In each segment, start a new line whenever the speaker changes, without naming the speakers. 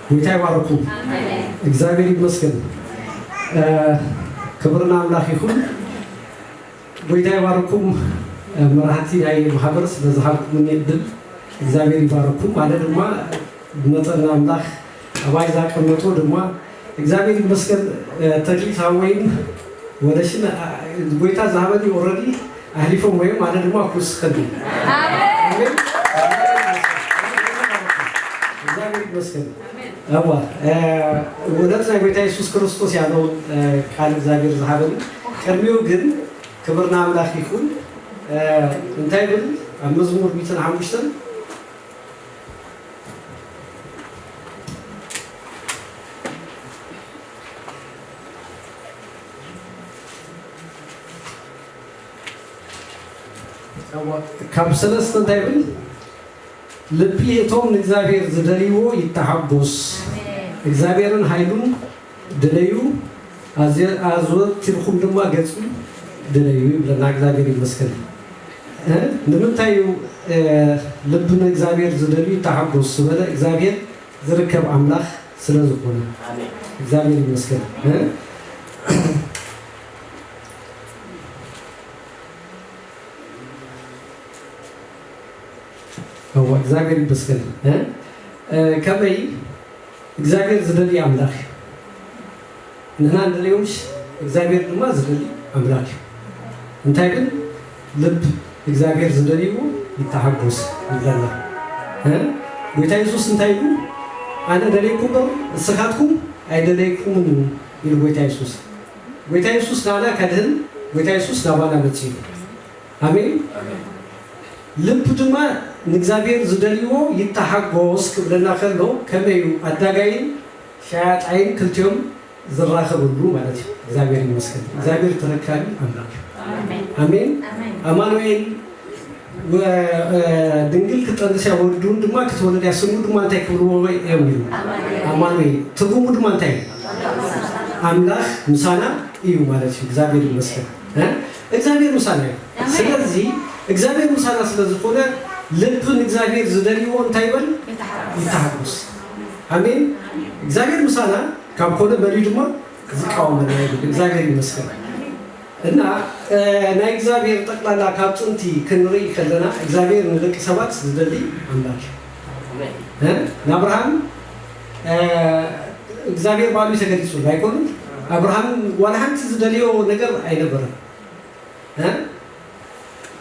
ጌታ ይባርኩ። እግዚአብሔር ይመስገን። ክብርና ኣምላኽ ይኹን። ጎይታ ይባርኩም መራሕቲ ናይ ማህበር ስለዝሃብኩምኒ እድል እግዚኣብሔር ይባርኩም። ኣነ ድማ መጠን ኣምላክ ኣባይ ዛቀመጦ ድማ እግዚኣብሔር ይመስገን ተክሊት ሃወይን ወደሽን ጎይታ ዝሃበኒ ኦረዲ ኣህሊፎም ወይም ኣነ ድማ ክውስከኒ እግዚኣብሔር ይመስገን እዋ እውነት ናይ ጎይታ ኢየሱስ ክርስቶስ ያለውን ቃል እግዚኣብሔር ዝሃበኒ ቅድሚው ግን ክብርና ኣምላክ ይኹን እንታይ ብል ኣብ መዝሙር ሚትን ሓሙሽተን ካብ ሰለስተ እንታይ ብል ልቢ እቶም ንእግዚኣብሔር ዝደልይዎ ይተሓጎስ እግዚኣብሔርን ኃይሉን ድለዩ ኣዘወቲርኩም ድማ ገጹ ድለዩ ይብለና እግዚኣብሔር ይመስገን እ ንምንታይ እዩ ልቢ ንእግዚኣብሔር ዝደልዩ ተሓጎሱ ዝበለ እግዚኣብሔር ዝርከብ ኣምላኽ ስለ ዝኾነ እግዚኣብሔር ይመስገን እ እወ እግዚኣብሔር ይመስገን እ ከመይ እግዚኣብሔር ዝደሊ ኣምላክ እዩ ንሕና ንደልዮ እምሽ እግዚኣብሔር ድማ ዝደሊ ኣምላክ እዩ እንታይ ብል ልብ እግዚኣብሔር ዝደልይዎ ይተሓጎስ ይብለና እ ጎይታ የሱስ እንታይ ኢሉ ኣነ ደለይኩ እምበር ንስካትኩም ኣይደለይኩምን እዩ ኢሉ ጎይታ የሱስ ጎይታ የሱስ ንኣና ከድህን ጎይታ የሱስ ናባና መጺኡ እዩ ኣሜን ልብ ድማ ንእግዚኣብሔር ዝደልዎ ይተሓጎስ ክብለና ከሎ ከመይ እዩ ኣዳጋይን ሸያጣይን ክልቲኦም ዝራከብሉ ማለት እዩ እግዚኣብሔር ይመስገን እግዚኣብሔር ተረካቢ ኣምላክ እዩ ኣሜን ኣማኑኤል ድንግል ክጠንስ እያ ወዱን ድማ ክትወለድ እያ ስሙ ድማ እንታይ ክብልዎ እዮም ይሉ ኣማኑኤል ትርጉሙ ድማ እንታይ እዩ ኣምላክ ምሳና እዩ ማለት እዩ እግዚኣብሔር ይመስገን እግዚኣብሔር ምሳና እዩ ስለዚ እግዚኣብሔር ምሳና ስለ ዝኮነ ልቢ ንእግዚኣብሔር ዝደልዎ እንታይ ይበል ይታሓጎስ ኣሜን እግዚኣብሔር ምሳና ካብ ኮነ መን ድማ ዝቃወመና ይብል እግዚኣብሔር ይመስገን እና ናይ እግዚኣብሔር ጠቅላላ ካብ ጥንቲ ክንርኢ ከለና እግዚኣብሔር ንደቂ ሰባት ዝደሊ ኣምላክ እዩ ንኣብርሃም እግዚኣብሔር ባዕሉ እዩ ተገሊፁሉ ኣይኮኑን ኣብርሃም ዋላ ሓንቲ ዝደልዮ ነገር ኣይነበረን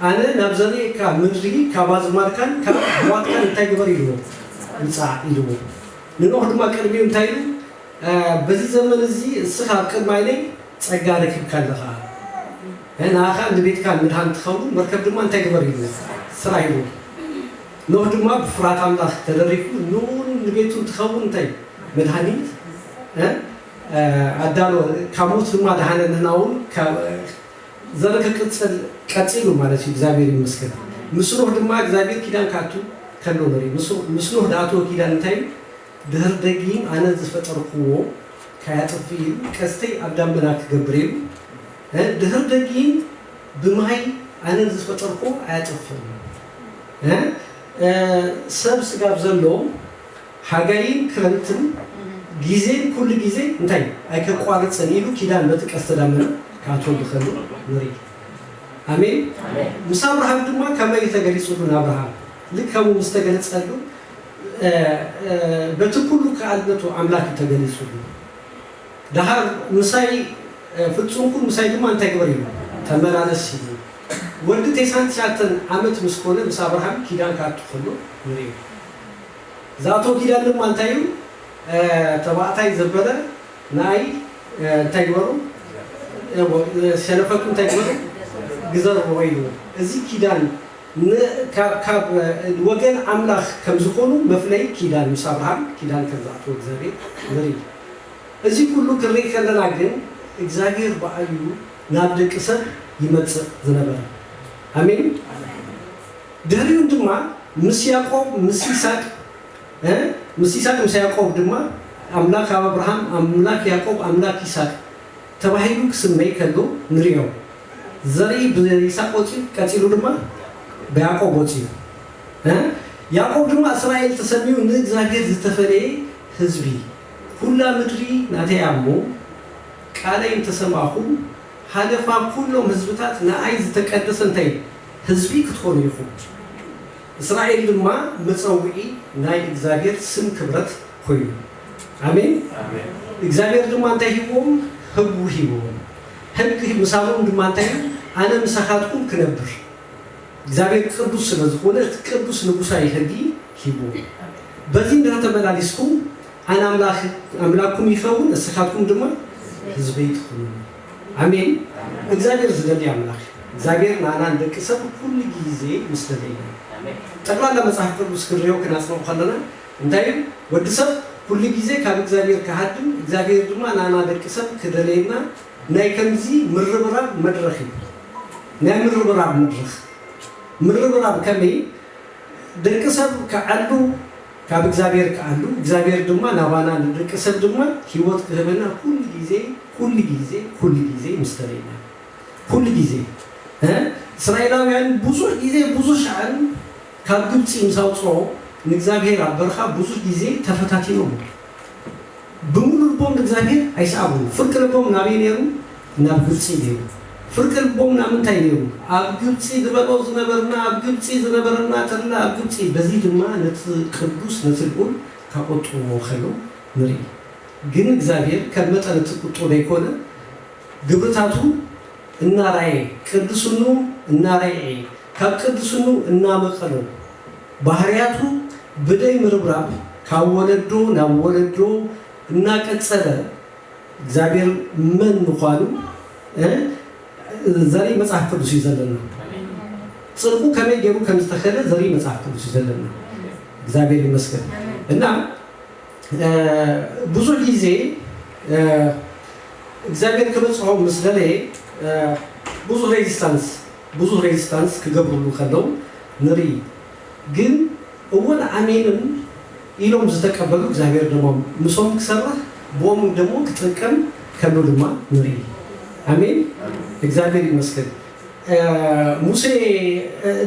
ኣነ ናብ ዘርእካ ምድሪ ካብ ኣዝማድካን ካብ ኣሕዋትካን እንታይ ግበር ኢልዎ ምፃዕ ኢልዎ ንኖህ ድማ ቅድሚኡ እንታይ ኢሉ በዚ ዘመን እዚ እስኻ ኣብ ቅድሚ ዓይነይ ፀጋ ረኪብካ ኣለኻ ንኣኻ ንቤትካ ምድሃን ትኸውን መርከብ ድማ እንታይ ግበር ኢልዎ ስራ ኢልዎ ኖህ ድማ ብፍርሃት ኣምላኽ ተደሪኹ ንኡን ንቤቱን ትኸውን እንታይ መድሃኒት እ ኣዳሎ ካብ ሞት ድማ ደሃነ ንናውን ዘር ክቅጽል ቀጺሉ ማለት እዩ እግዚኣብሔር ይመስገን ምስ ኖህ ድማ እግዚኣብሔር ኪዳን ክኣቱ ከሎ ንርኢ ምስ ኖህ ድኣተወ ኪዳን እንታይ እዩ ድህር ደጊም ኣነ ዝፈጠርክዎ ካያጥፍእ ኢሉ ቀስተይ ኣብ ዳመና ክገብር ኢሉ እ ድህር ደጊም ብማይ ኣነ ዝፈጠርክዎ ኣያጠፍእን እ ሰብ ስጋብ ዘሎ ሓጋይን ክረምትን ጊዜን ኩሉ ጊዜ እንታይ ኣይከቋርጽን ኢሉ ኪዳን በቲ ቀስተ ዳመና ክኣትወሉ ከሎ ንርኢ ኣሜን ምስ ኣብርሃም ድማ ከመይ እዩ ተገሊጽሉ ንኣብርሃም ልክ ከምኡ ምስ ተገለጸሉ በቲ ኩሉ ክኣልነቱ ኣምላክ እዩ ተገሊጽሉ ደሓር ምሳይ ፍጹም ኩን ምሳይ ድማ እንታይ ግበር ኢሉ ተመላለስ ኢሉ ወዲ ቴሳን ትሽዓተን ዓመት ምስ ኮነ ምስ ኣብርሃም ኪዳን ክኣቱ ከሎ ንሪኦ ዝኣቶ ኪዳን ድማ እንታይ እዩ ተባዕታይ ዘበለ ንኣይ እንታይ ግበሩ እወ ሸለፈቱ እንታይ ግበሩ ግዘርዎ ኢሉ እዚ ኪዳን ን ካብ ካብ ወገን ኣምላኽ ከም ዝኾኑ መፍለይ ኪዳን ምስ ኣብርሃም ኪዳን ከም ዝኣትዎ ግዘሪ ንሪኢ እዚ ኩሉ ክንርኢ ከለና ግን እግዚኣብሄር ብኣዩ ናብ ደቂ ሰብ ይመጽእ ዝነበረ። ኣሜን። ድህሪኡን ድማ ምስ ያቆብ ምስ ይሳቅ እ ምስ ይሳቅ ምስ ያቆብ ድማ ኣምላክ ኣብርሃም ኣምላክ ያቆብ ኣምላክ ይሳቅ ተባሂሉ ክስመይ ከሎ ንሪኦ። ዘርኢ ብይሳቅ ወጽዩ ቀጺሉ ድማ ብያቆብ ወጽዩ እ ያቆብ ድማ እስራኤል ተሰምዩ ንእግዚኣብሄር ዝተፈለየ ህዝቢ ኵላ ምድሪ ናተይ እያ እሞ፣ ቃለይ እንተ ሰማዕኹም፣ ሃለፋ ኵሎም ህዝብታት ንኣይ ዝተቀደሰ እንታይ እዩ? ህዝቢ ክትኾኑ ኢኹም። እስራኤል ድማ መጸውዒ ናይ እግዚኣብሔር ስም ክብረት ኮይኑ። ኣሜን። እግዚኣብሔር ድማ እንታይ ሂብዎም? ህግ ሂብዎም። ህግ ምሳብኦም ድማ እንታይ እዩ? ኣነ ምሳኻትኩም ክነብር። እግዚኣብሔር ቅዱስ ስለ ዝኮነ እቲ ቅዱስ ንጉሳዊ ሕጊ ሂቡ በዚ እንዳ ተመላሊስኩም ኣነ ኣምላክ ኣምላኩም ይከውን እስካትኩም ድማ ህዝበይ ትኩኑኒ ኣሜን እግዚኣብሔር ዝደሊ ኣምላክ እዩ እግዚኣብሔር ናኣና ንደቂ ሰብ ኩሉ ግዜ ምስ ደለየና እዩ ጠቅላላ መጽሓፍ ቅዱስ ክንሪኦ ክናጽንኦ ከለና እንታይ እዩ ወዲ ሰብ ኩሉ ግዜ ካብ እግዚኣብሔር ክሃድም እግዚኣብሔር ድማ ናኣና ደቂ ሰብ ክደለየና ናይ ከምዚ ምርብራብ መድረኽ ይብሎ ናይ ምርብራብ መድረኽ ምርብራብ ከመይ ደቂ ሰብ ክዓሉ ካብ እግዚኣብሔር ክኣሉ እግዚኣብሔር ድማ ናባና ንደቂ ሰብ ድማ ሕይወት ክህበና ኩሉ ጊዜ ኩሉ ጊዜ ኩሉ ጊዜ ምስ ተለየና ኩሉ ጊዜ እ እስራኤላውያን ብዙሕ ጊዜ ብዙሕ ሻዕን ካብ ግብጺ ምስ ኣውጽኦ ንእግዚኣብሔር ኣብ በርኻ ብዙሕ ጊዜ ተፈታቲኖሞ ብምሉእ ልቦም ንእግዚኣብሄር ኣይሰኣቡን። ፍርቂ ልቦም ናበይ ነይሩ? ናብ ግብጺ ነይሩ። ፍርቂ ልቦም ናብ ምንታይ ነይሩ? ኣብ ግብጺ ድበሎ ዝነበርና፣ ኣብ ግብጺ ዝነበረና ተድላ ኣብ ግብጺ። በዚ ድማ ነቲ ቅዱስ ነቲ ልኡል ካቆጥኡዎ ከለው ንርኢ። ግን እግዚኣብሄር ከም መጠን እቲ ቁጥኡ ደይኮነ ግብርታቱ እናራኤ ቅድስንኡ እናረኤ ካብ ቅድስንኡ እናመቀሎ፣ ባህርያቱ ብደይ ምርብራብ ካብ ወለዶ ናብ ወለዶ እናቀጸለ እግዚኣብሔር መን ምዃኑ ዘርኢ መጽሓፍ ቅዱስ እዩ ዘለና። ጽድቁ ከመይ ገይሩ ከም ዝተኸለ ዘርኢ መጽሓፍ ቅዱስ እዩ ዘለና። እግዚኣብሔር ይመስገን እና ብዙሕ ጊዜ እግዚኣብሔር ክበጽሖ ምስ ደለየ ብዙሕ ሬዚስታንስ ብዙህ ሬዚስታንስ ክገብርሉ ከለው ንርኢ ግን እወን ኣሜንን ኢሎም ዝተቀበሉ እግዚኣብሔር ደሞ ምሶም ክሰርህ ብኦምን ደሞ ክጥቅም ከሉ ድማ ንርኢ ኣሜን እግዚኣብሔር ይመስገን ሙሴ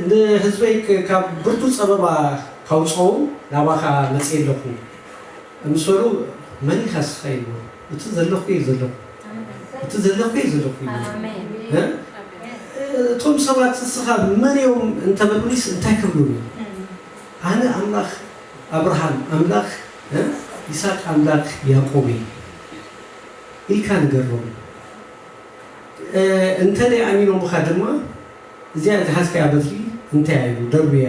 ንህዝበይ ካብ ብርቱ ጸበባ ካውጽኦም ናባኻ መጽኤ ኣለኹ ምስ በሉ መን ኢኻስ ኢልዎ። እቲ ዘለኩ እየ ዘለኩ እቲ ዘለኩ እየ ዘለኩ እዩ እ እቶም ሰባት ንስኻ መን እዮም እንተበሉኒስ እንታይ ክብሉኒ ኣነ ኣምላኽ ኣብርሃም ኣምላኽ እ ይስሐቅ ኣምላክ ያዕቆብ እየ ኢልካ ንገሮም እ እንተ ደይ ኣሚኖምኻ ድማ እዚኣ ዝሓዝካያ በትሪ እንታይ እዩ ደርብያ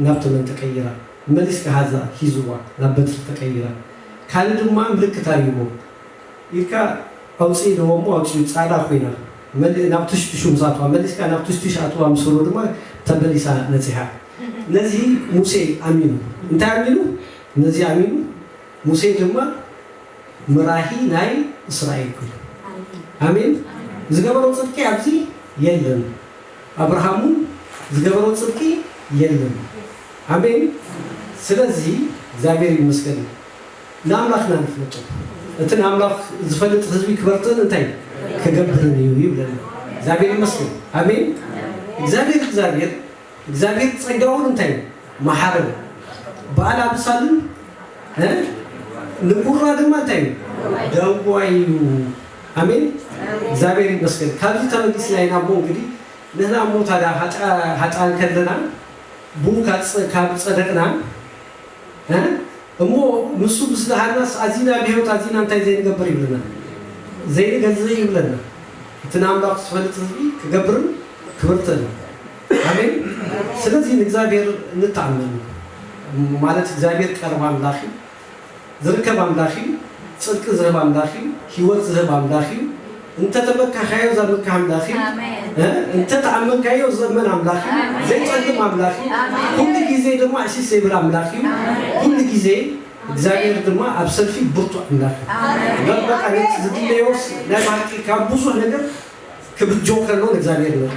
ናብ ተመን ተቀይራ መሊስካ ሃዛ ሂዝዋ ናብ በትሪ ተቀይራ ካልእ ድማ ምልክት ኣልዎ ኢልካ ኣውጽኢ ኢልዎ እሞ ኣውጺኡ ጻዳ ኮይና መልእ ናብ ቱሽቱሹ ምስ ኣትዋ መሊስካ ናብ ቱሽቱሽ ኣትዋ ምስ በሎ ድማ ተመሊሳ ነጺሃ ነዚ ሙሴ ኣሚኑ እንታይ ኣሚኑ ነዚ ኣሚኑ ሙሴ ድማ መራሂ ናይ እስራኤል ኮይኑ ኣሜን ዝገበሮ ጽድቂ ኣብዚ የለን። ኣብርሃምውን ዝገበሮ ጽድቂ የለን ኣሜን ስለዚ እግዚኣብሔር ይመስገን ንኣምላክና ንፍለጦ እቲ ንኣምላክ ዝፈልጥ ህዝቢ ክበርትዕን እንታይ ክገብርን እዩ ይብለና እግዚኣብሔር ይመስገን ኣሜን እግዚኣብሔር እግዚኣብሔር እግዚኣብሔር ጸጋውን እንታይ መሓርን በኣል ኣምሳልን ን ንቡራ ድማ እንታይ እዩ ደዋይ እዩ ኣሜን እግዚኣብሔር ይመስገን ካብዚ ተበጊስና ኢና እሞ እንግዲ ንህና እሞ ታዳ ሃጥኣን ከለና ብኡ ካብ ጸደቅና እ እሞ ንሱ ምስ ደሃናስ ኣዚና ብሕይወት ኣዚና እንታይ ዘይንገብር ይብለና ዘይንገዝእ ይብለና እቲ ንኣምላኩ ዝፈልጥ ህዝቢ ክገብርን ክብርትን እዩ ኣሜን ስለዚ ንእግዚኣብሔር ንተኣመን ማለት እግዚኣብሔር ቀርብ ኣምላክ እዩ ዝርከብ ኣምላኽ እዩ ጽድቂ ዝህብ ኣምላኽ እዩ ሂወት ዝህብ ኣምላኽ እዩ እንተተመካካዮ ዘምክህ ኣምላኽ እዩ እንተተኣመንካዮ ዝእመን ኣምላኽ እዩ ዘይጸልም ኣምላኽ እዩ ኩሉ ግዜ ድማ እሺ ዘይብል ኣምላኽ እዩ ኩሉ ግዜ እግዚኣብሔር ድማ ኣብ ሰልፊ ብርቱዕ ኣምላኽ እዩ እበር በቃ ነቲ ዝድለዮስ ናይ ብሓቂ ካብ ብዙሕ ነገር ክብጆ ከሎ ንእግዚኣብሔር ንርኢ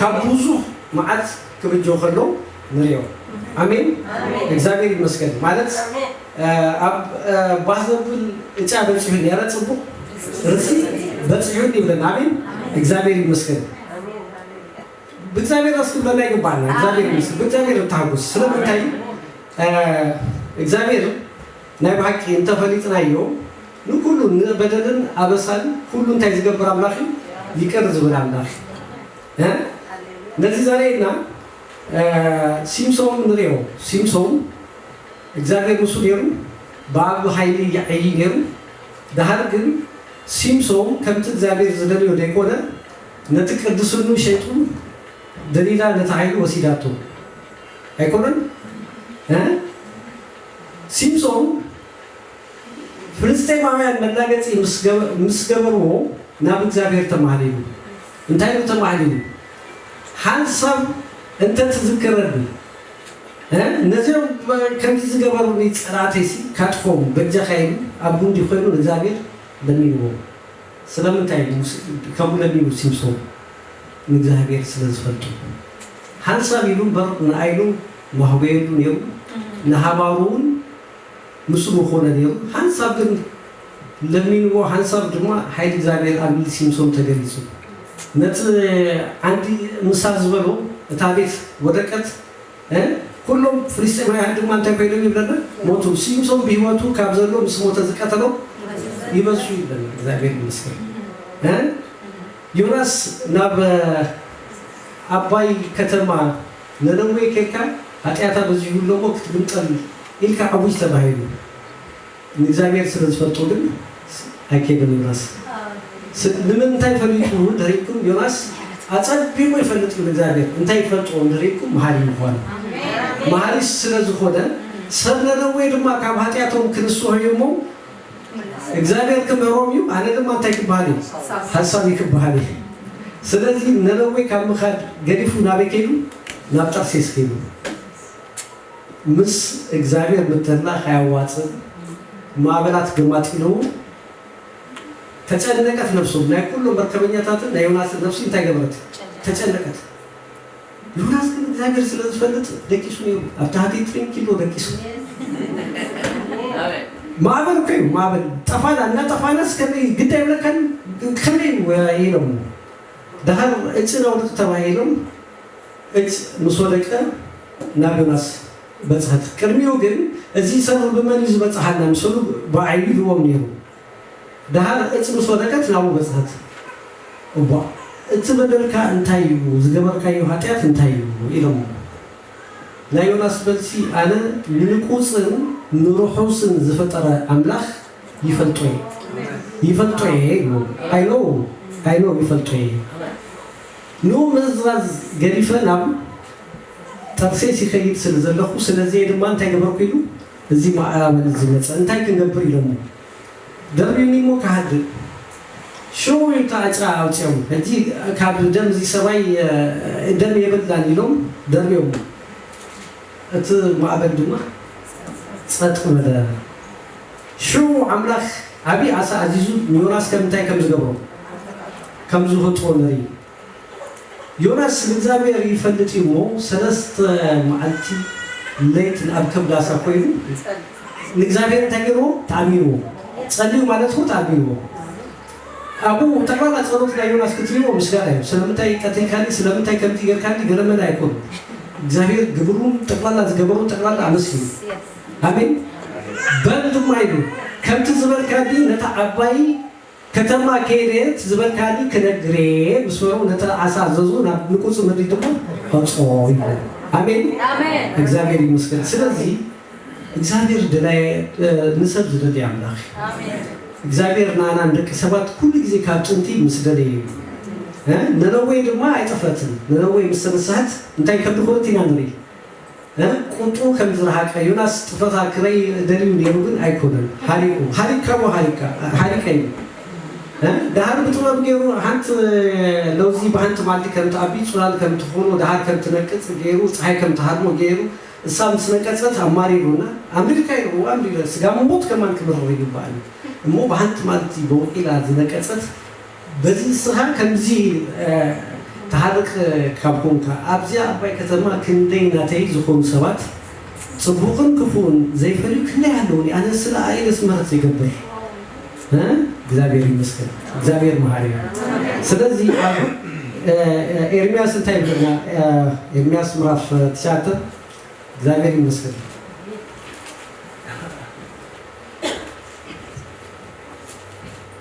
ካብ ብዙሕ መዓት ክብጆ ከሎ ንሪኦ ኣሜን እግዚኣብሔር ይመስገን ማለት ኣብ ባህዘብል እጫ በፂሑ ነረ ፅቡቅ ርሲ በፂሑ ይብለን ኣሜን እግዚኣብሔር ይመስገን ብእግዚኣብሔር ስ ክብለና ይግባና እግዚኣብሔር ይመስገን ብእግዚኣብሔር እተሃጉስ ስለምንታይ እግዚኣብሔር ናይ ብሓቂ እንተፈሊጥናዮ ንኩሉ ንበደልን ኣበሳን ኩሉ እንታይ ዝገብር ኣምላኽ ይቅር ዝብል ኣምላኽ ነዚ ዘርእየና ሲምሶን ንርኦ ሲምሶን እግዚኣብሔር ምሱ ነሩ ብኣብ ኃይሊ ይዓዪ ነሩ ደሃር ግን ሲምሶን ከምቲ እግዚኣብሔር ዝደልዮ ደይኮነ ነቲ ቅድስኑ ሸይጡ ደሊላ ነቲ ኃይሉ ወሲዳቶ ኣይኮነን እ ሲምሶን ፍልስጤማውያን መላገጺ ምስ ገበርዎ ናብ እግዚኣብሔር ተማህሊሉ እንታይ ኢሉ ተማህሊሉ ሓንሳብ እንተ ትዝክረኒ እ ነዚኦም ከምዚ ዝገበሩኒ ጸላእተይሲ ካጥፎም በጃኻ ኢሉ ኣብ ጉንዲ ኮይኑ ንእግዚኣብሔር ለሚንዎ ስለምንታይ ሙሴ ከምኡ ለሚኑ ሲምሶም ንእግዚኣብሔር ስለ ዝፈልጦ ሓንሳብ ኢሉ እምበር ንኣይሉ ማህጎየሉ ኔሩ ንሃባሩ ውን ምስኡ ምኾነ ኔሩ ሓንሳብ ግን ለሚንዎ ሓንሳብ ድማ ሓይሊ እግዚኣብሔር ኣብ ምልሲ ምሶም ተገሊጹ ነቲ ዓንዲ ምሳር ዝበሎ እታ ቤት ወደቀት እ ኩሎም ፍልስጤማውያን ድማ እንታይ ኮይኖም ይብለና ሞቱ ሲምሶም ብህይወቱ ካብ ዘሎ ምስ ሞተ ዝቀተሎም ይበዝሑ ይብለና እግዚኣብሔር ይመስገን እ ዮናስ ናብ ኣባይ ከተማ ነነዌ ከድካ ሃጢኣታ በዚሁ እሎሞ ክትግምጠል ኢልካ ኣውጅ ተባሂሉ ንእግዚኣብሔር ስለ ዝፈልጦ ግን ኣይኬደን ዮናስ ስለ ንምንታይ ፈሊጡ እንተሪኢኩም ዮናስ ኣጸቢቁ ይፈልጥ እዩ ንእግዚኣብሔር እንታይ ይፈልጦ እንተሪኢኩም መሃሪ ምኳኑ መሃሪ ስለ ዝኾነ ሰብ ነነዌ ድማ ካብ ሃጢኣቶም ክንስሆ እዩ እሞ እግዚኣብሔር ክምህሮም እዩ ኣነ ድማ እንታይ ክበሃል እዩ ሓሳብ እዩ ክበሃል እዩ ስለዚ ነነዌ ካብ ምኻድ ገዲፉ ናበይ ከይዱ ናብ ጠርሴስ ከይዱ ምስ እግዚኣብሔር ምትህላኽ ኣያዋጽእን ማዕበላት ገማጢልዉ ተጨነቀት ነፍሶም ናይ ኩሎም መርከበኛታትን ናይ ዮናስን ነፍሲ እንታይ ገበረት ተጨነቀት ዮናስ ግን እግዚኣብሔር ስለ ዝፈልጥ ደቂሱ ነይሩ ኣብ ታህቲ ጥሪንግ ኢሎ ደቂሱ ማዕበል እኮ እዩ ማዕበል ጠፋና እናጠፋናስ ከመይ ግድ ኣይብለካን ከመይ ኢሎም ዳሃር እጭ ናውድቅ ተባሂሎም እጭ ምስ ወደቀ ናብ ዮናስ በጽሐት ቅድሚኡ ግን እዚ ሰብር ብመን እዩ ዝበጽሐና ምስሉ ብዓይኑ ኢልዎም ነይሩ ደሃር እጭ ምስ ወደቀት ናብኡ በጽሐት እቧ እቲ በደልካ እንታይ እዩ ዝገበርካዮ ኃጢኣት እንታይ እዩ ኢሎሞ ናይ ዮናስ መልሲ ኣነ ንንቁጽን ንርሑስን ዝፈጠረ ኣምላኽ ይፈልጦ እየ ይፈልጦ እየ ኢልዎም i know i know ይፈልጦ እየ። ንምምእዝዛዝ ገዲፈ ናብ ተርሴስ ይኸይድ ስለ ዘለኹ፣ ስለዚየ ድማ እንታይ ገበርኩ ኢሉ እዚ ማዕበል እዚ መጸ። እንታይ ክንገብር ኢሎሞ ደርብዩኒ እሞ ክሃድእ ሽው ኢልካ ዕጽራ ኣውጺኦም ሕጂ ካብ ደም እዚ ሰባይ ደም የብልናን ኢሎም ደርብዮሞ እቲ ማዕበል ድማ ጸጥ በለ። ሽዑ ኣምላኽ ዓብዪ ዓሣ ኣዚዙ ንዮናስ ከም እንታይ ከም ዝገብሮ፣ ከም ዝውህጥዎ ንርኢ። ዮናስ ንእግዚኣብሔር ይፈልጥ እዩ እሞ ሠለስተ መዓልቲ ለይትን ኣብ ከብድ ዓሣ ኮይኑ ንእግዚኣብሔር እንታይ ገይርዎ? ተኣሚንዎ። ጸልዩ ማለት እኮ ተኣሚንዎ። ኣብኡ ጠቕላላ ጸሎት ናይ ዮናስ ክትርእይዎ ምስጋና እዩ። ስለምንታይ ቀቲልካኒ፣ ስለምንታይ ከምዚ ገርካኒ ገለመለ ኣይኮነን። እግዚኣብሔር ግብሩን ጠቕላላ ዝገበሮ ጠቕላላ ኣመስጊኑ። ኣሜን በል ድማ ኢሉ ከምቲ ዝበልካኒ ነታ ዓባይ ከተማ ከይደ እቲ ዝበልካኒ ክነግርየ ምስ በሎ ነቲ ዓሳ ኣዘዙ ናብ ንቁጽ ምድሪ ድማ ኣውጽኦ ይብሎ ኣሜን እግዚኣብሔር ይመስገን ስለዚ እግዚኣብሔር ደላይ ንሰብ ዝደሊ ኣምላኽ እዩ እግዚኣብሔር ንኣና ንደቂ ሰባት ኩሉ ግዜ ካብ ጥንቲ ምስ ደለየ እዩ ነነዌ ድማ ኣይጠፍአትን ነነዌ ምስ ተነስሐት እንታይ ከምዝኾነት ኢና ንርኢ ቁጡ ከም ዝረሃቀ ዮናስ ጥፈኻ ክረይ ደልዩ ነይሩ ግን ኣይኮነን ሃሪቁ ሃሪካሞ ሃሪካ ሃሪቀኒ ደሃር ብጥበብ ገይሩ ሃንት ለውዚ ብሃንት ማልቲ ከም ትኣቢ ጹላል ከም ትኾኖ ደሃር ከም ትነቅጽ ገይሩ ጸሓይ ከም ትሃርሞ ገይሩ እሳ ምስ ነቀጸት ኣማሪሩ እና ኣምሪርካ ኢሉ እወ ኣምሪረ ስጋ ምሞት ከማን ክምርረዩ ይግባኣኒ እሞ ብሃንት ማልቲ ቦቂላ ዝነቀጸት በዚ ንስኻ ከምዚ ትሃርቅ ካብ ኮንካ ኣብዚኣ ዓባይ ከተማ ክንደይ ናተይ ዝኾኑ ሰባት ጽቡቅን ክፉእን ዘይፈልዩ ክንደይ ኣለዉኒ ኣነ ስለ ኣኢለስ ምህረት ዘይገብር እ እግዚኣብሔር ይመስገን እግዚኣብሔር መሃሪ እዩ ስለዚ ኣብ ኤርምያስ እንታይ ይብለና ኤርምያስ ምዕራፍ ትሽዓተ እግዚኣብሔር ይመስገን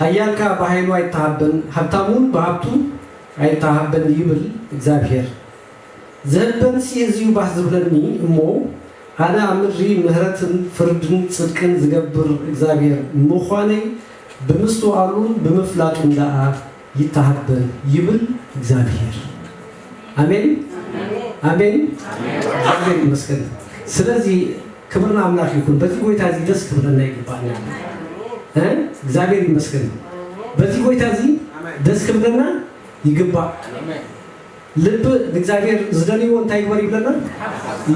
ኃያል ከኣ ብኃይሉ ኣይተሃበን፣ ሃብታም እውን ብሃብቱ ኣይተሃበን ይብል እግዚኣብሔር። ዚሀበንሲ እዚ እዩ ባህ ዚብለኒ እሞ፣ ኣነ ኣብ ምድሪ ምሕረትን ፍርድን ጽድቅን ዝገብር እግዚኣብሔር ምዃነይ ብምስትውዓሉን ብምፍላጡን ደኣ ይተሃበን ይብል እግዚኣብሔር። ኣሜን ኣሜን፣ እግዚኣብሔር ይመስገን። ስለዚ፣ ክብር ንኣምላክ ይኩን በዚ ጎይታ እዚ ደስ ክብለና ይግባኣና ኣሎ እግዚኣብሔር ይመስገን በዚ ጎይታ እዚ ደስ ክብለና ይግባእ ልቢ ንእግዚኣብሔር ዝደልዎ እንታይ ይግበር ይብለና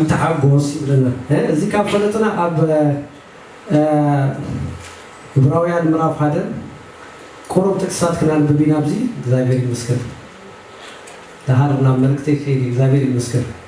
ይተሓጎስ ይብለና እዚ ካብ ፈለጥና ኣብ ዕብራውያን ምዕራፍ ሓደ ቁሩብ ጥቅስታት ክናንብብ ኢና ኣብዚ እግዚኣብሔር ይመስገን ደሃር ናብ መልእክተይ ከይድ እግዚኣብሔር ይመስገን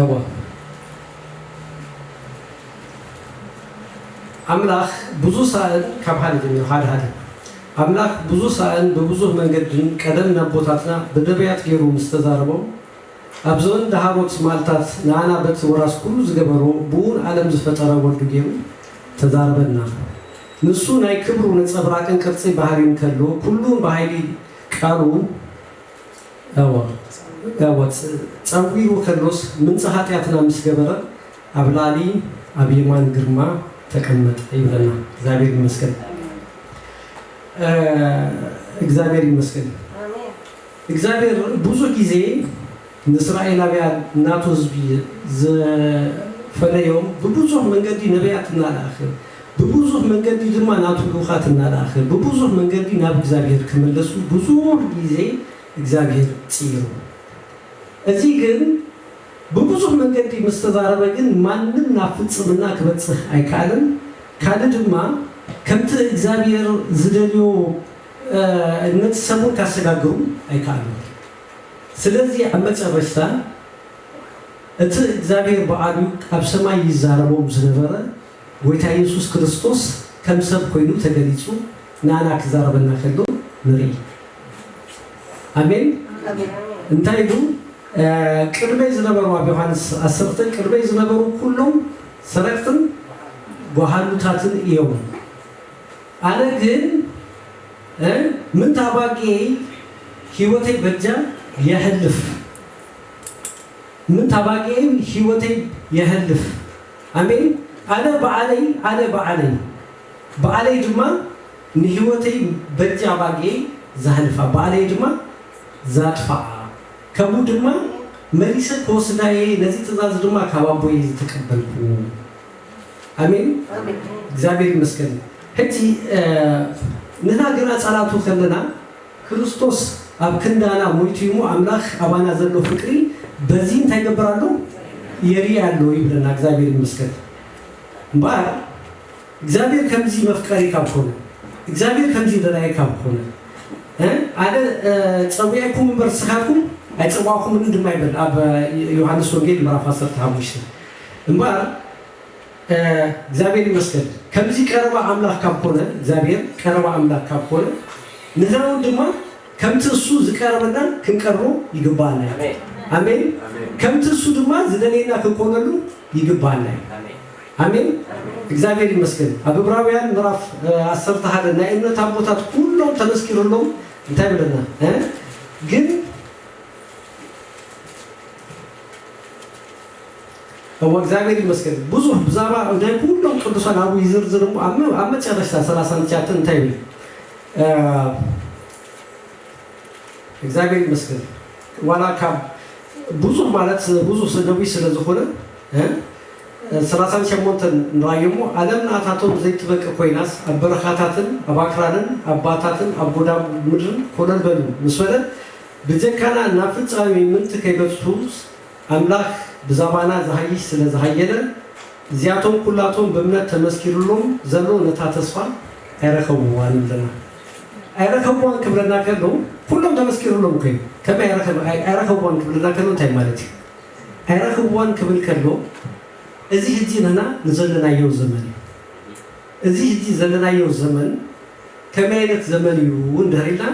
እወ ኣምላኽ ብዙ ሳእን ካብ ሓደ ጀሚሩ ሓደ ሓደ ኣምላኽ ብዙ ሳእን ብብዙህ መንገድን ቀደም ናቦታትና ብነብያት ገሩ ምስ ተዛረቦም ኣብ ዘበን ደሃሮት ማልታት ንኣና በት ወራስ ኩሉ ዝገበሮ ብኡን ኣለም ዝፈጠረ ወልዱ ገሩ ተዛረበና ንሱ ናይ ክብሩ ነጸብራቅን ቅርጺ ባህሪን ከሎ ኩሉን ብሃይሊ ቃሉ እወ፣ ጸዊሩ ከሎስ ምንጻ ኃጢኣትና ምስ ገበረ ኣብ ላዕሊ ኣብ የማን ግርማ ተቀመጠ ይብለና። እግዚኣብሔር ይመስገን እግዚኣብሔር ይመስገን። እግዚኣብሔር ብዙ ጊዜ ንእስራኤላውያን ናቱ ሕዝቢ ዝፈለዮም ብብዙኅ መንገዲ ነቢያት እናልኣኸ ብብዙሕ መንገዲ ድማ ናቱ ልኡኻት እናለኣኸ ብብዙሕ መንገዲ ናብ እግዚኣብሄር ክምለሱ ብዙሕ ጊዜ እግዚኣብሄር ፅኢሩ እዚ ግን ብብዙሕ መንገዲ ምስ ተዛረበ ግን ማንም ናብ ፍፅምና ክበፅህ ኣይከኣለን ካልእ ድማ ከምቲ እግዚኣብሄር ዝደልዮ ነቲ ሰብ እውን ካሰጋግሩ ኣይከኣሉን ስለዚ ኣብ መጨረሽታ እቲ እግዚኣብሄር ባዕሉ ኣብ ሰማይ ይዛረቦም ዝነበረ ጎይታ የሱስ ክርስቶስ ከም ሰብ ኮይኑ ተገሊጹ ንኣና ክዛረበና ከሎ ንርኢ። ኣሜን እንታይ ኢሉ ቅድመይ ዝነበሩ ኣብ ዮሃንስ ዓሰርተ ቅድመይ ዝነበሩ ኩሎም ሰረቅትን ጓሃሉታትን እዮም ኣነ ግን ምንት ኣባጊኤይ ህይወተይ በጃ የሕልፍ ምንት ኣባጊኤይ ህይወተይ የሕልፍ ኣሜን ኣነ ባዓለይ ኣነ ባዓለይ ባኣለይ ድማ ንሂወተይ በጃ ኣባጊኤይ ዘሕልፋ ባኣለይ ድማ ዛጥፋኣ ከምኡ ድማ መሊሰ ክወስዳ እየ ነዚ ትእዛዝ ድማ ካብ ኣቦይ እየ ዝተቀበልኩ ኣሜን እግዚኣብሔር ይመስገን ሕጂ ንህና ገና ኣጻላቱ ከለና ክርስቶስ ኣብ ክንዳና ሞይቱ እሞ ኣምላክ ኣባና ዘሎ ፍቅሪ በዚ እንታይ ይገብር ኣሎ የርኢ ኣሎ ይብለና እግዚኣብሔር ይመስገን እምበኣር እግዚኣብሔር ከምዚ መፍቀሪ ካብ ኮነ እግዚኣብሔር ከምዚ ደላይ ካብ ኮነ ኣነ ፀዊዐኩም እምበር ንስኻትኩም ኣይፀዋዕኩምን ድማ ይብል ኣብ ዮሃንስ ወንጌል ምዕራፍ 15 እምበኣር እግዚኣብሔር ይመስገን ከምዚ ቀረባ ኣምላክ ካብ ኮነ እግዚኣብሔር ቀረባ ኣምላክ ካብ ኮነ ንሕና እውን ድማ ከምቲ እሱ ዝቀረበና ክንቀርቦ ይግበኣና እዩ ኣሜን ከምቲ እሱ ድማ ዝደልየና ክንኮነሉ ይግበኣና እዩ ኣሜን እግዚኣብሔር ይመስገን ኣብ ዕብራውያን ምዕራፍ ዓሰርተ ሓደ ናይ እምነት ኣቦታት ኩሎም ተመስኪርሎም እንታይ ብለና እ? ግን እወ እግዚኣብሔር ይመስገን ብዙሕ ብዛዕባ ናይ ኩሎም ቅዱሳን ኣብኡ ይዝርዝር እሞ ኣብ ኣብ መጨረሽታ ሰላሳን ትሽዓተን እንታይ ይብል እግዚኣብሔር ይመስገን ዋላ ካብ ብዙሕ ማለት ብዙሕ ሰነዊ ስለ ዝኾነ ሰላሳን ሸሞንተን ንራዮ እሞ ኣለም ንኣታቶም ዘይትበቂ ኮይናስ ኣብ በረኻታትን ኣብ ኣክራንን ኣብ ባታትን ኣብ ጎዳም ምድርን ኮለል በሉ ምስ በለ ብጀካና ናብ ፍጻሜ ምንቲ ከይበጽሑስ ኣምላኽ ብዛባና ዝሃይሽ ስለ ዝሃየለን እዚኣቶም ኩላቶም ብእምነት ተመስኪርሎም ዘሎ ነታ ተስፋ ኣይረከብዋን ኣለና ኣይረከብዋን ክብለና ከሎ ኩሎም ተመስኪርሎም እኮ እዩ ከመይ ኣይረከብዋን ክብለና ከሎ እንታይ ማለት እዩ ኣይረከብዋን ክብል ከሎ እዚ ሕጂ ንህና ንዘለናዮ ዘመን እዩ። እዚ እቲ ዘለናዮ ዘመን ከመይ ኣይነት ዘመን እዩ እንድሕር ኢልና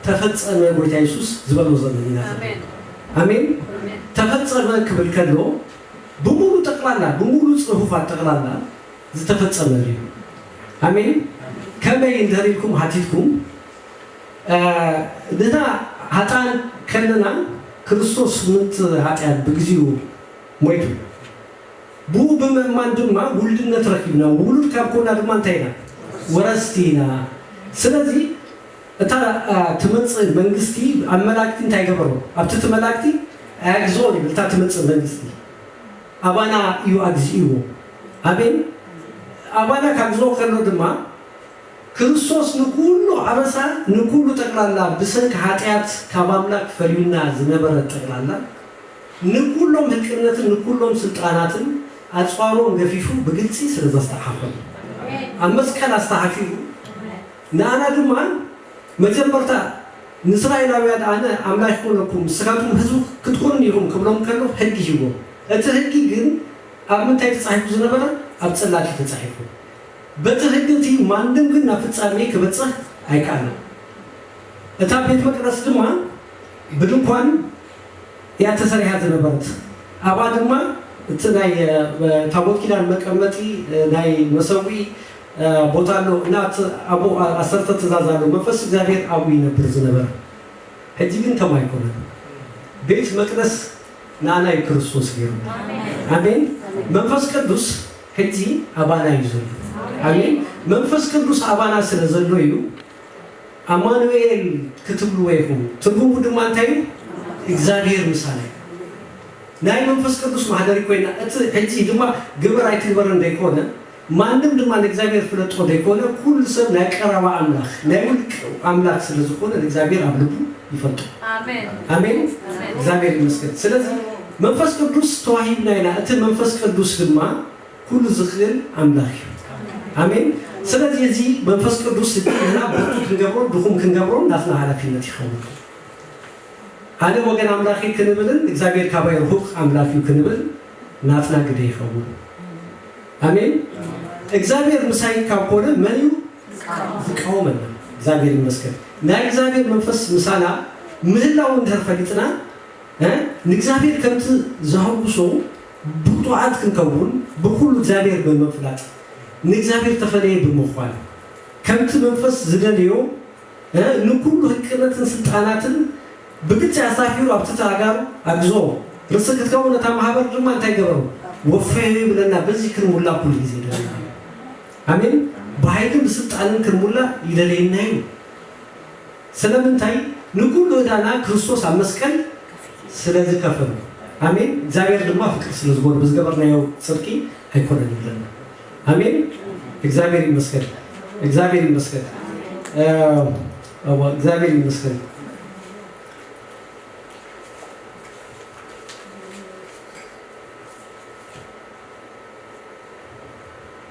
ተፈጸመ ጎይታ የሱስ ዝበሎ ዘመን ኢና ዘለና። ኣሜን ተፈጸመ ክብል ከሎ ብሙሉ ጠቅላላ ብሙሉ ጽሁፋት ጠቅላላ ዝተፈጸመ እዩ። ኣሜን ከመይ እንድሕር ኢልኩም ሃቲትኩም ንሕና ሃጣን ከለና ክርስቶስ ምንት ሃጢኣት ብግዚኡ ሞይቱ። ብኡ ብምእማን ድማ ውሉድነት ረኺብና፣ ውሉድ ካብ ኮና ድማ እንታይ ኢና? ወረስቲ ኢና። ስለዚ እታ ትመጽእ መንግስቲ ኣብ መላእክቲ እንታይ ገበሮ? ኣብቲ እቲ መላእክቲ ኣይኣግዝኦን ይብል። እታ ትመጽእ መንግስቲ ኣባና እዩ ኣግዚእዎ። ኣሜን። ኣባና ካግዝኦ ከሎ ድማ ክርስቶስ ንኩሉ ኣበሳ ንኩሉ ጠቅላላ ብሰንኪ ኃጢኣት ካብ ኣምላክ ፈሊዩና ዝነበረ ጠቅላላ፣ ንኩሎም ህቅነትን ንኩሎም ስልጣናትን ኣጽዋሮም ገፊፉ ብግልጺ ስለ ዘስተዓሓፎም ኣብ መስቀል ኣስተሃፊሩ ንኣና ድማ መጀመርታ ንእስራኤላውያን ኣነ ኣምላክ ይኩነኩም ንስካትኩም ህዝቢ ክትኩኑኒ ኢኩም ክብሎም ከሎ ህጊ ሂቦም እቲ ህጊ ግን ኣብ ምንታይ ተጻሒፉ ዝነበረ ኣብ ጽላት እዩ ተጻሒፉ በቲ ህጊ እቲ ማንም ግን ናብ ፍጻሜ ክበጽህ ኣይከኣለን እታ ቤት መቅደስ ድማ ብድንኳን እያ ተሰሪሓ ዝነበረት። ኣብኣ ድማ እቲ ናይ ታቦት ኪዳን መቀመጢ ናይ መሰውኢ ቦታ ኣሎ እና እቲ ኣብኡ ኣሰርተ ትእዛዝ ኣሎ መንፈስ እግዚኣብሔር ኣብኡ ይነብር ዝነበረ ሕጂ ግን ከምኡ ኣይኮነን ቤት መቅደስ ናኣና እዩ ክርስቶስ ገይርዎ ኣሜን መንፈስ ቅዱስ ሕጂ ኣባና እዩ ዘሎ ኣሜን መንፈስ ቅዱስ ኣባና ስለ ዘሎ እዩ ኣማኑኤል ክትብልዎ ኢኹም፣ ትርጉሙ ድማ እንታይ እዩ? እግዚኣብሄር ምሳና እዩ። ናይ መንፈስ ቅዱስ ማህደሪ ኮይና፣ እቲ ሕጂ ድማ ግበር ኣይትግበርን ዘይኮነ፣ ማንም ድማ ንእግዚኣብሄር ፍለጦ ዘይኮነ፣ ኩሉ ሰብ ናይ ቀረባ ኣምላኽ፣ ናይ ውልቂ ኣምላኽ ስለ ዝኾነ ንእግዚኣብሄር ኣብ ልቡ ይፈልጦ። ኣሜን። እግዚኣብሄር ይመስገን። ስለዚ መንፈስ ቅዱስ ተዋሂብና ኢና፣ እቲ መንፈስ ቅዱስ ድማ፣ ኩሉ ዝክእል ኣምላክ እዩ ኣሜን ስለዚ እዚ መንፈስ ቅዱስ እዚ ንሕና ብርቱዕ ክንገብሮን ድኩም ክንገብሮን ናትና ሃላፊነት ይከውን ኣነ ወገን ኣምላክ እዩ ክንብልን እግዚኣብሔር ካባይ ርሁቅ ኣምላክ እዩ ክንብል ናትና ግደ ይከውን ኣሜን እግዚኣብሔር ምሳይ ካብ ኮነ መን እዩ ዝቃወመና እግዚኣብሔር ይመስገን ናይ እግዚኣብሔር መንፈስ ምሳና ምህላው እንድሕር ፈሊጥና ንእግዚኣብሔር ከምቲ ዘሐጉሶ ብቁዓት ክንከውን ብኩሉ እግዚኣብሔር ብምፍላጥ ንእግዚኣብሔር ተፈለየ ብምኳን ከምቲ መንፈስ ዝደልዮ ንኩሉ ህቅነትን ስልጣናትን ብግልጺ ኣሳፊሩ ኣብቲ ተኣጋሩ ኣግዞ ርእሲ ክትከውን እታ ማህበር ድማ እንታይ ገበሩ ወፈዮ ይብለና በዚ ክንሙላ ኩሉ ግዜ ይደልየና እዩ ኣሜን ብሃይልን ብስልጣንን ክንሙላ ይደልየና እዩ። ስለምንታይ ንኩሉ እዳና ክርስቶስ ኣብ መስቀል ስለ ዝከፈሎ ኣሜን እግዚኣብሔር ድማ ፍቅር ስለ ዝኮነ ብዝገበርናዮ ጽድቂ ኣይኮነን ይብለና ኣሜን እግዚኣብሔር ይመስገን እግዚኣብሔር ይመስገን እወ እግዚኣብሔር ይመስገን።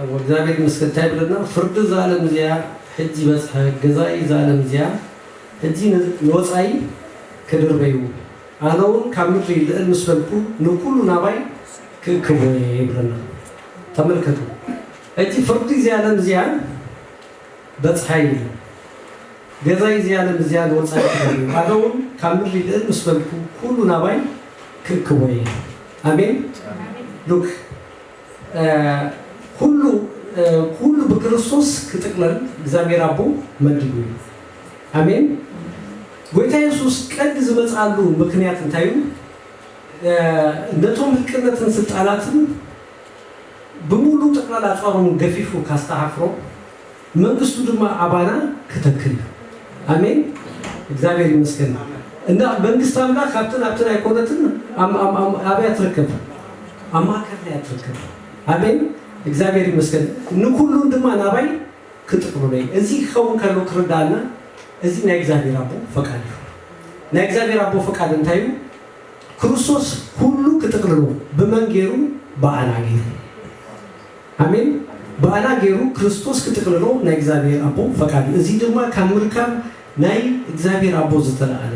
እሞ እግዚኣብሔር ይመስገን እንታይ ይብለና ፍርዲ እዛ ኣለም እዚኣ ሕጂ በጽሐ ገዛኢ እዛ ኣለም እዚኣ ሕጂ ንወጻኢ ክድርበዩ ኣነ ውን ካብ ምድሪ ልእል ምስ በልኩ ንኩሉ ናባይ ክእክቦ እየ ይብለና ተመልከቱ ሕጂ ፍርዲ እዚ ኣለም እዚኣ በጽሐ ይብል ገዛኢ እዚ ኣለም እዚኣ ንወጻኢ ክድርበዩ ኣነ ውን ካብ ምድሪ ልእል ምስ በልኩ ኩሉ ናባይ ክእክቦ እየ ኣሜን ሉክ ኩሉ ኩሉ ብክርስቶስ ክጥቅለል እግዚኣብሔር ኣቦ መዲቡ እዩ ኣሜን ጎይታ የሱስ ቀዲ ዝመጽኣሉ ምክንያት እንታይ እዩ ነቶም ህቅነትን ስልጣናትን ብሙሉ ጥቅላላ ጸሮም ገፊፉ ካስተካክሮ መንግስቱ ድማ ኣባና ከተክል ኣሜን እግዚኣብሔር ይመስገን እና መንግስት ኣምላክ ካብትን ኣብትን ኣይኮነትን ኣብያ ትርከብ ኣብ ማእከልና እያ ትርከብ ኣሜን እግዚኣብሔር ይመስገን ንኩሉን ድማ ናባይ ክጥቅሉለ እዚ ክኸውን ከሎ ክርዳእና እዚ ናይ እግዚኣብሔር ኣቦ ፈቃድ እዩ ናይ እግዚኣብሔር ኣቦ ፈቃድ እንታይ እዩ ክርስቶስ ኩሉ ክጥቅልሎ ብመን ገይሩ ብኣና ገይሩ ኣሜን ብኣና ገይሩ ክርስቶስ ክጥቅልሎ ናይ እግዚኣብሔር ኣቦ ፈቃድ እዩ እዙይ ድማ ካብ ምርካብ ናይ እግዚኣብሔር ኣቦ ዝተለኣለ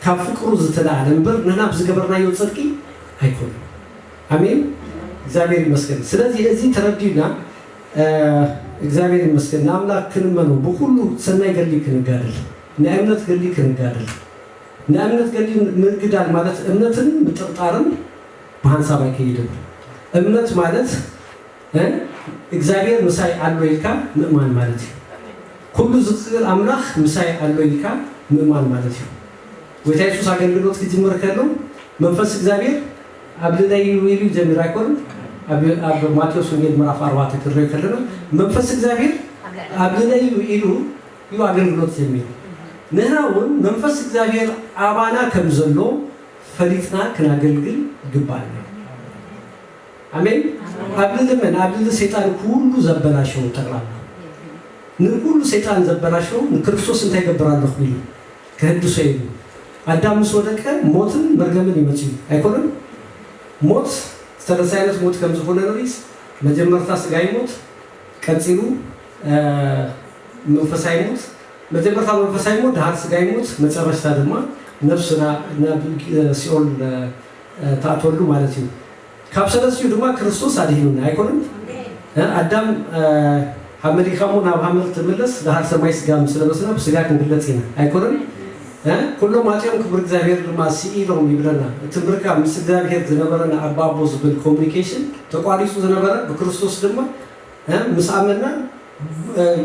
ካብ ፍቅሩ ዝተለኣለ እምበር ንሕና ብዝገበርናዮ ፅድቂ ኣይኮነን ኣሜን እግዚኣብሔር ይመስገን ስለዚ እዙይ ተረዲኡና እግዚኣብሔር ይመስገን ንኣምላክ ክንመኖ ብኩሉ ሰናይ ገድሊ ክንጋደል ናይ እምነት ገድሊ ክንጋደል ናይ እምነት ገድሊ ምግዳል ማለት እምነትን ምጥርጣርን ብሃንሳብ ኣይክይድን እምነት ማለት እ እግዚኣብሔር ምሳይ ኣሎ ኢልካ ምእማን ማለት እዩ ኩሉ ዝክእል ኣምላክ ምሳይ ኣሎ ኢልካ ምእማን ማለት እዩ ጎይታ የሱስ ኣገልግሎት ክጅምር ከሎ መንፈስ እግዚኣብሔር ኣብ ልለይ እዩ ኢሉ ጀሚሩ ኣይኮን ኣብ ኣብ ማቴዎስ ወንጌል ምዕራፍ ኣርባዕተ ክንሪኦ ከለና መንፈስ እግዚኣብሔር ኣብ ልለይ እዩ ኢሉ እዩ ኣገልግሎት ጀሚሩ ንህና እውን መንፈስ እግዚኣብሔር ኣባና ከም ዘሎ ፈሊጥና ክናገልግል ይግባኣና ኣሜን ኣብ ልሊ መን ኣብ ልሊ ሰይጣን ኩሉ ዘበላሸው ጠቅላላ ንኩሉ ሰይጣን ዘበላሸው ንክርስቶስ እንታይ ይገብር ኣለኹ ኢሉ ከህድሶ ኢሉ ኣዳም ምስ ወደቀ ሞትን መርገምን ይመጽዩ ኣይኮነን ሞት ዝተነሳይነት ሞት ከም ዝኾነ ንሪስ መጀመርታ ስጋይ ሞት ቀጺሉ መንፈሳይ ሞት መጀመርታ መንፈሳ ይሙት ደሃር ስጋ ይሙት መጨረሽታ ድማ ነብስና ናብ ሲኦል ትኣትወሉ ማለት እዩ ካብ ሰለስቲኡ ድማ ክርስቶስ ኣድሂኑና ኣይኮነን እ ኣዳም ሃብ መሊካ እሞ ናብ ሃመል ትምለስ ደሃር ሰማይ ስጋ ምስ ለበስና ብስጋ ክንግለጽ ኢና ኣይኮነን እ ኩሎም ኣጽዮም ክብሪ እግዚኣብሔር ድማ ስኢሎም ይብለና እቲ ምርካብ ምስ እግዚኣብሔር ዝነበረና ኣባ ኣቦ ዝብል ኮሙኒኬሽን ተቋሪጹ ዝነበረ ብክርስቶስ ድማ እ ምስ ኣመና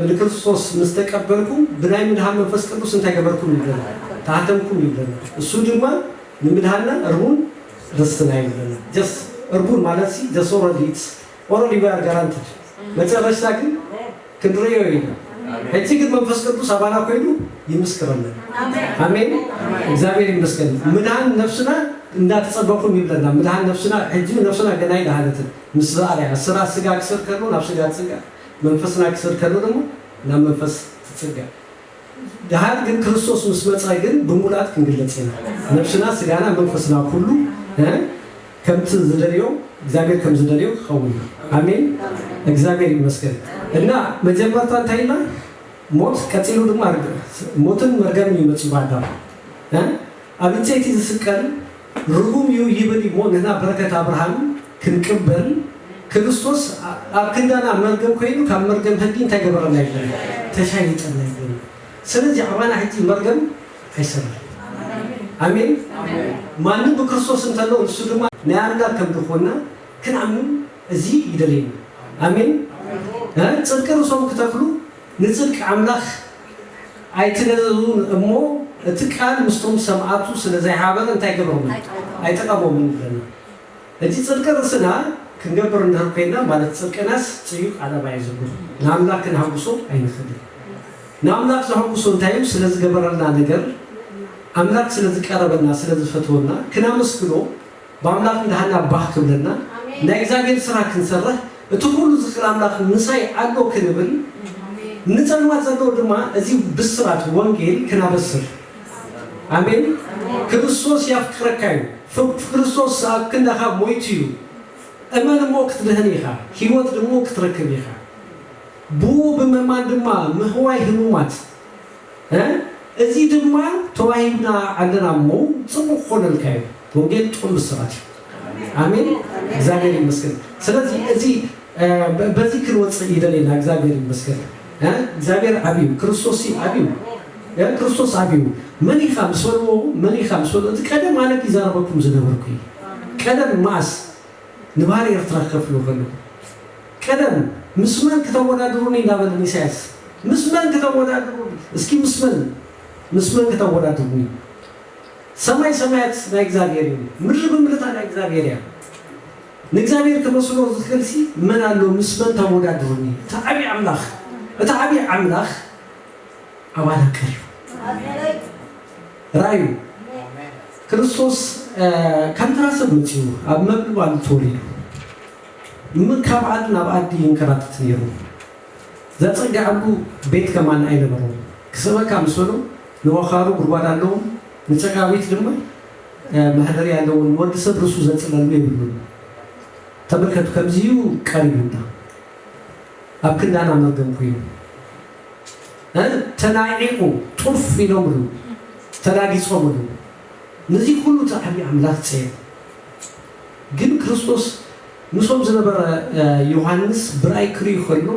ንክርስቶስ ምስ ተቀበልኩም ብናይ ምድኃን መንፈስ ቅዱስ እንታይ ገበርኩም ይብለና ተሃተምኩም ይብለና እሱ ድማ ንምድኃንና እርሙን ርስትና እዩ ይብለና ጀስት እርሙን ማለት ሲ ጀስት ኦረዲ ኢትስ ኦረዲ ዊ ኣር ጋራንትድ መጨረሽታ ግን ክንርእዮ ኢና ሕጂ ግን መንፈስ ቅዱስ ኣባና ኮይኑ ይምስክረና ኣሜን እግዚኣብሔር ይመስገን ምድኃን ነፍስና እንዳተጸበኩም ይብለና ምድኃን ነፍስና ሕጂ ነፍስና ገና ኣይደሃነትን ምስ ርኣና ስራ ስጋ ክስር ከሉ ናብ ስጋ ትጽጋዕ መንፈስና ክስር ከሉ ደሞ ናብ መንፈስ ትጽጋዕ ደሃር ግን ክርስቶስ ምስ መጸ ግን ብሙላት ክንግለጽ ኢና ነብስና ስጋና መንፈስና ኩሉ ከምቲ ዝደልዮ እግዚኣብሔር ከም ዝደልዮ ክኸውን እዩ ኣሜን እግዚኣብሔር ይመስገን እና መጀመርታ እንታይ ኢልና ሞት ቀጺሉ ድማ ርግ ሞትን መርገምን እዩ መጺኡ ብኣዳም ኣብ ዕንጸይቲ ዝስቀል ርጉም እዩ ይብል እሞ ንሕና በረከት ኣብርሃም ክንቅበል ክርስቶስ ኣብ ክንዳና መርገም ኮይኑ ካብ መርገም ህጊ እንታይ ገበረና ይብል ተሻይጠና ይብል ሰለዚ ኣባና ሕጂ መርገም ኣይሰራን ኣሜን ማንም ብክርስቶስ እንተሎ ንሱ ድማ ናይ ኣምላክ ከም ድኮና ክንኣምን እዚ ይደልየና ኣሜን ጽድቂ ርእሶም ክተክሉ ንጽድቂ ኣምላኽ ኣይትነዘዙን እሞ እቲ ቃል ምስቶም ሰምኣቱ ስለ ዘይሃበረ እንታይ ገበሮምን ኣይጠቀሞምን ይብለና እቲ ጽድቂ ርእስና ክንገብር እንድህር ኮይና ማለት ጽድቅናስ ጽዩቅ ዓለባ እዩ ዘጉህ ንኣምላክ ክንሃጉሶ ኣይንክልን ንኣምላክ ዘሀጉሶ እንታይ እዩ ስለ ዝገበረልና ነገር ኣምላክ ስለ ዝቀረበና ስለ ዝፈትወና ክናመስግኖ ብኣምላኽ እንዳሃና ባህ ክብለና ናይ እግዚኣብሔር ስራ ክንሰርሕ እቲ ኩሉ ዝክል ኣምላኽ ምሳይ ኣሎ ክንብል ንጸልማት ዘለዎ ድማ እዚ ብስራት ወንጌል ክናበስር ኣሜን ክርስቶስ ያፍቅረካ እዩ ፍክርስቶስ ኣብ ክንዳኻ ሞይቱ እዩ እመን እሞ ክትድህን ኢኻ ህይወት ድሞ ክትረክብ ኢኻ ብኡ ብምእማን ድማ ምህዋይ ህሙማት እዚ ድማ ተዋሂብና ኣለና እሞ ጽቡቅ ክኾነልካ እዩ ወንጌል ጥዑም ብስራት እዩ ኣሜን እግዚኣብሔር ይመስገን ስለዚ እዚ በዚ ክንወጽእ ይደሌና እግዚኣብሔር ይመስገን እግዚኣብሔር ዓብዩ ክርስቶስሲ ዓብዩ ክርስቶስ ዓብዩ መን ኢኻ ምስ በልዎ መን ኢኻ ምስ በልዎ እቲ ቀደም ኣነብ ይዛረበኩም ዝነበርኩ እዩ ቀደም ማኣስ ንባህሪ ኤርትራ ክከፍልዎ ከለዉ ቀደም ምስ መን ክተወዳድሩኒ እንዳበለን ኢሳያስ ምስ መን ክተወዳድሩኒ እስኪ ምስ መን ምስ መን ክተወዳድሩኒ ሰማይ ሰማያት ናይ እግዝኣብሄር እዩ ምድሪ ብምልታ ናይ እግዝኣብሄር እያ ንእግዝኣብሄር ክመስሎ ዝክእልሲ መን ኣሎ ምስ መን ተወዳድሩኒ እቲ ዓቢ ኣምላኽ እቲ ዓቢ ኣምላኽ ኣባና ቀርዩ። ራዩ ክርስቶስ ከም ተራ ሰብ መጺኡ ኣብ መብል ባሉ ተወሊዱ ም ካብ ዓዲ ናብ ኣዲ ይንከራተት ነይሩ ዘጸግዐሉ ቤት ከማን ኣይነበሮን ክስእበካ ምስ በሎ ንወኻሩ ጉድጓድ ኣለዎም ንጸጋዊት ድማ መህደሪ ኣለዎ ንወዲ ሰብ ርእሱ ዘጽለሉ የብሉን ተመልከቱ ከምዚዩ ቀሪቡና ኣብ ክንዳና መርገም ኮይኑ ተናዒቑ ጡፍ ኢሎምሉ ተላጊጾምሉ ነዚ ኩሉ ጻዕሪ ኣምላኽ ጸየፉ። ግን ክርስቶስ ምስኦም ዝነበረ ዮሃንስ ብራእይ ክርኢ ከሎ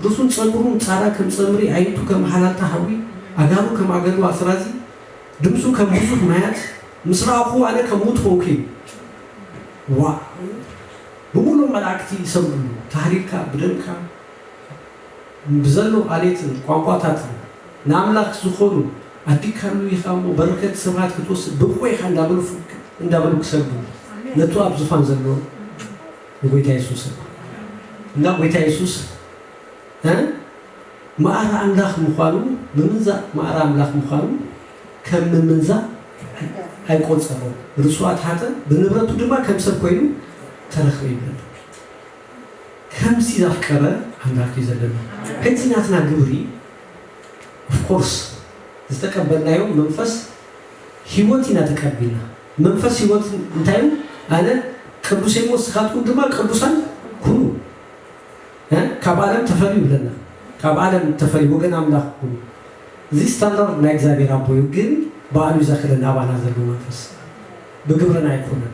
ርእሱን ጸጉሩን ጻራ ከም ጸምሪ ኣዒንቱ ከም ሃላታ ሓዊ ኣእጋሩ ከም ኣገዶ ኣስራዚ ድምጹ ከም ብዙሕ ማያት ምስ ረኣኹ ኣነ ከም ሙት ኮንኩ ኢሉ። ዋእ ብምሉእ መላእክቲ ይሰግድሉ ታህሊልካ ብደምካ ብዘሎ ዓሌትን ቋንቋታትን ንኣምላኽ ዝኾኑ ኣድካሉ ኢኻ እሞ በረከት ስብሃት ክትወስድ ብቁዕ ኢኻ እንዳበሉ ፍክ እንዳበሉ ክሰግዱ ነቱ ኣብ ዙፋን ዘሎ ንጎይታ የሱስ እና ጎይታ የሱስ እ መኣር ኣምላኽ ምዃኑ ምምንዛእ መኣር ኣምላኽ ምዃኑ ከም ምምንዛእ ኣይቆጸሮም ርሱዓት ሃጠ ብንብረቱ ድማ ከም ሰብ ኮይኑ ተረክበ ይብል ከምቲ ዘፍቀረ ኣምላክ እዩ ዘለና እቲ ናትና ግብሪ of course ዝተቀበልናዮ መንፈስ ሂወት ኢና ተቀቢልና መንፈስ ሂወት እንታይ እዩ ኣነ ቅዱስ እየ ንስካትኩም ድማ ቅዱሳን ኩኑ እ ካብ ኣለም ተፈልዩ ይብለና ካብ ኣለም ተፈልዩ ወገን ኣምላክ ኩኑ እዚ ስታንዳርድ ናይ እግዚኣብሔር ኣቦ እዩ ግን ባዕሉ እዩ ዘክለና ኣባና ዘሎ መንፈስ ብግብርና ኣይኮነን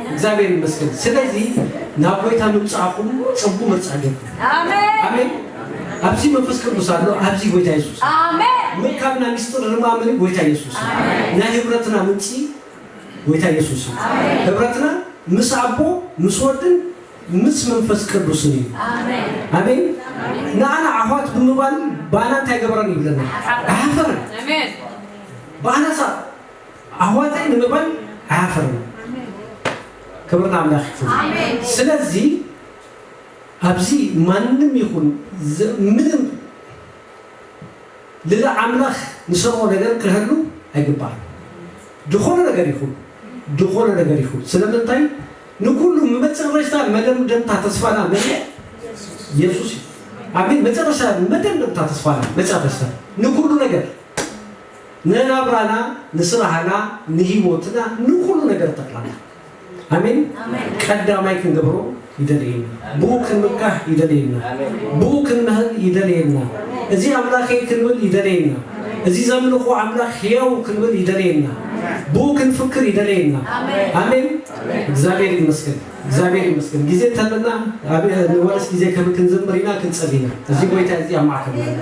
እግዚኣብሔር ይመስገን ስለዚ ናብ ጎይታ ምምጻእኩም ጽቡ ምርጻ ጌርኩም ኣሜን ኣብዚ መንፈስ ቅዱስ ኣሎ ኣብዚ ጎይታ የሱስ ምርካብና ሚስጥር ርማምሪ ጎይታ የሱስ ናይ ህብረትና ምንጪ ጎይታ የሱስ ህብረትና ምስ ኣቦ ምስ ወድን ምስ መንፈስ ቅዱስን እዩ ኣሜን ንኣና ኣሕዋት ብምባል ባና እንታይ ገበረን ይብለና ኣሕፈረን ባናሳ ኣሕዋተይ ንምባል ኣይሃፈርናን። ክብሪ ንኣምላኽ ይኹን። ስለዚ ኣብዚ ማንም ይኹን ምንም ልዕሊ ኣምላኽ ንሰርዖ ነገር ክህሉ ኣይግባእን። ዝኾነ ነገር ይኹን ዝኾነ ነገር ይኹን ስለምንታይ ንኩሉ መጨረሽታ መደምደምታ ተስፋና መን እዩ? የሱስ እዩ። ኣሜን። መጨረሻ መደምደምታ ተስፋና መጨረሽታ ንኩሉ ነገር ንናብራና ንስራህና ንሂወትና ንኩሉ ነገር ጠቅላላ ኣሜን ቀዳማይ ክንገብሮ ይደልየና ብኡ ክንምካሕ ይደልየና ብኡ ክንምህር ይደልየና እዚ ኣምላከይ ክንብል ይደልየና እዚ ዘምልኮ ኣምላክ ህያዉ ክንብል ይደልየና ብኡ ክንፍክር ይደልየና ኣሜን እግዚኣብሔር ይመስገን እግዚኣብሔር ይመስገን ግዜ እንተለና ንወረስ ግዜ ክንዝምር ኢና ክንጸሊ ኢና እዚ ጎይታ እዚ ኣብ ማዕከልና